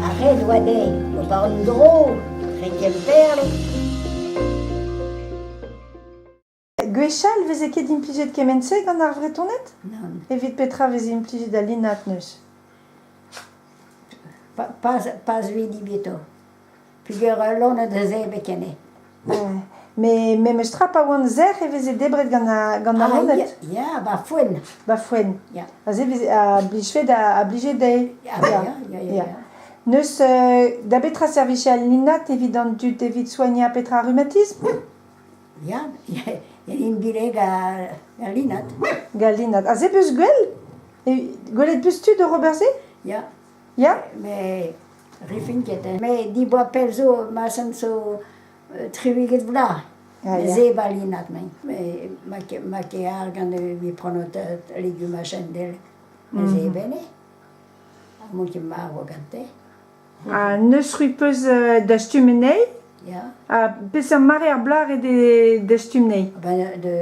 Ar re a oa dezhi o vont en-dro re Gemperl. Gwechall veze ket implijet kement-se gant ar Vretoned Nann, Evit petra veze implijet al linat neuze? pa, pas, pas lui dibietto. Peger ul loened a zebr ken eo. Met memes tra pa oant sec'h e veze debret gant al loened. Ya, ba foen. Ba foen. Aze a blije dezhe. Ya. N'eus da betra servij al linat evit an dud evit soignañ petra rhumatisme? Ya, int bileg al linat. Gant linat. Aze 'beus gwell? Gwelet 'beus tud oc'h ober se? Ya. Ya, met rifin ket. Met diboa pell zo, ma chom zo triwiged vloaz. Ze balinat mein. Ma ke ar gant vi pronot legume a chendel. Ze bene. Mon ke maro gante. Ha neus c'hwi peus dastum anezhi? Ya. Ha peseurt mare ar bloaz eo dastum anezhi? Ben de...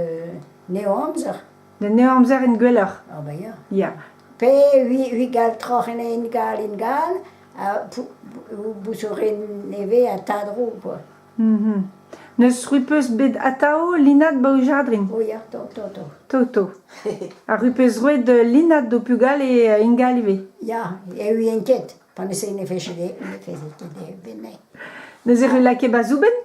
Ne amzer. N'en eo amzer int gwelloc'h. Ah ben ya. Ya. Pe vi gal troc'h en en gal en gal, bouzorin nevez ha tadrou quoi. Mhm. N'eus rupeus bet atao linad ba o jardrin? O ya, to, to, to. To, to. Ar rupeus roet linad d'o pugale ingal ivez? Ya, e ouien ket, pa ne se ne feze ket e venne. Neuze e lakae ba zoubenn?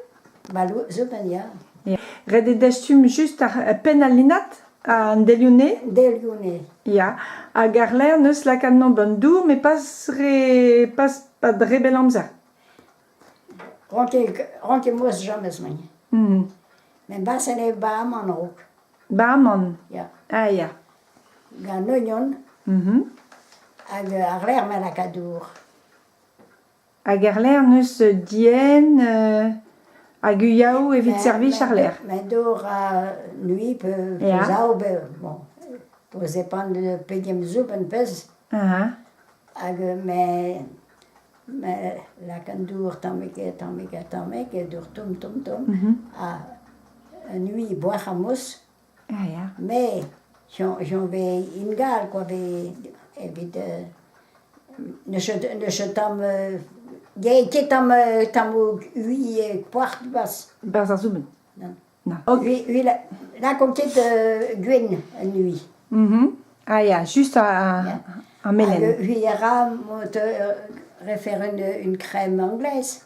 Ret eo dastum just ar penn al linad, an delione? Delione. Ya, hag àr-lerc'h neus lakaat-mañ ba'n dour, met pas re pas pas re bell amzer. Ronket moas james mañ. Hmm. Met basen eo ba'aman raok. Ba'aman? Ya. Ah ya. Gant oignon. Mm-hmm. Hag àr-lerc'h ma lakaat dour. Hag erlec'h n'eus dienn hag uiaou evit servij àr-lerc'h. Ma dor a nui pe zaou pe bon tout depend pegen zoub en peus. Hag me me lakan dour tammig ha tammig ha tammig e dour tomm tomm tomm ha nui boac'h ha mouss. Ya. Mais j'en vais in Galles quoi evit ne je tamm ket tamm ui poart barzh. Barzh ar zoumen? Na. Ui lakaomp ket gwenn un ui. Ah ya, just ar melen. Hag ui a ra refer une crème anglaise.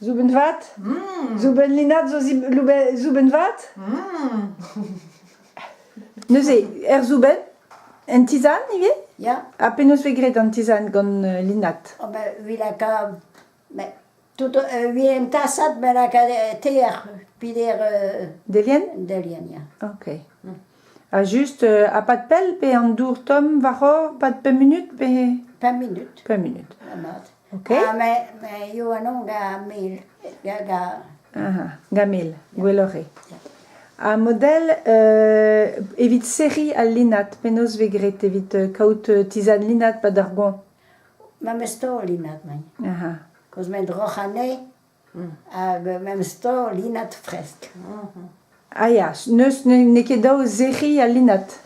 Zoubenn vat. Zoubenn linad zo zib- loube- zoubenn vat. Neuze, er zoubenn, en tizann ivez? Ya, Ha penaos vez graet an tizann gant euh, linad? oh ben, vi laka, ben, tout, euh, vi en tasad, ben laka euh, teer, pider euh, Delien? delien, ya. Ok. Ha juste, euh, ha pas de pell pe an dour tomm war-hor, pas de pemp minutes pe... Pemp minutes, Pemp minutes. la mat. Ha me me eo anv da mil da da. Da mil, gwelloc'h eo. Ha model evit serriñ al linad, penaos vez graet evit kaout tizhad linad 'pad ar goañv? Ma 'm eus taol linad, mañ. Cos 'mañ droc'h anezhi. Ha memes tro linat fresk. Ah ya, n'eus n'eo ket dav sec'hiñ al linat.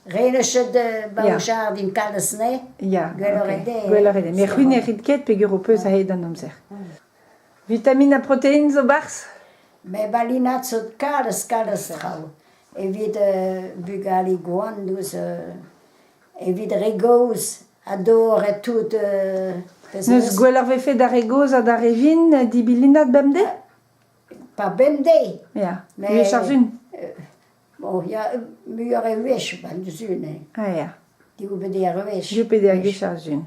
Renechet ba o jardin kalz anezhe. Ya, gwelloc'h eo met c'hwi ne rit ket peger ho peus a-hed an amzer. Vitamin ha protein zo barzh? Me ba linat zo kalz kalz traoù evit bugale gwan douzh evit re gozh ha dorret tout. N'eus gwell ar vefe d'ar re gozh ha d'ar re vin dibilinat bemdez? Pas bemdez. Ya, gwech ar vun. Bon, il y a muioc'h e wech, pas du-zu, ne. Ah ya. Div pe der wech. Div pe der gwech ar vun.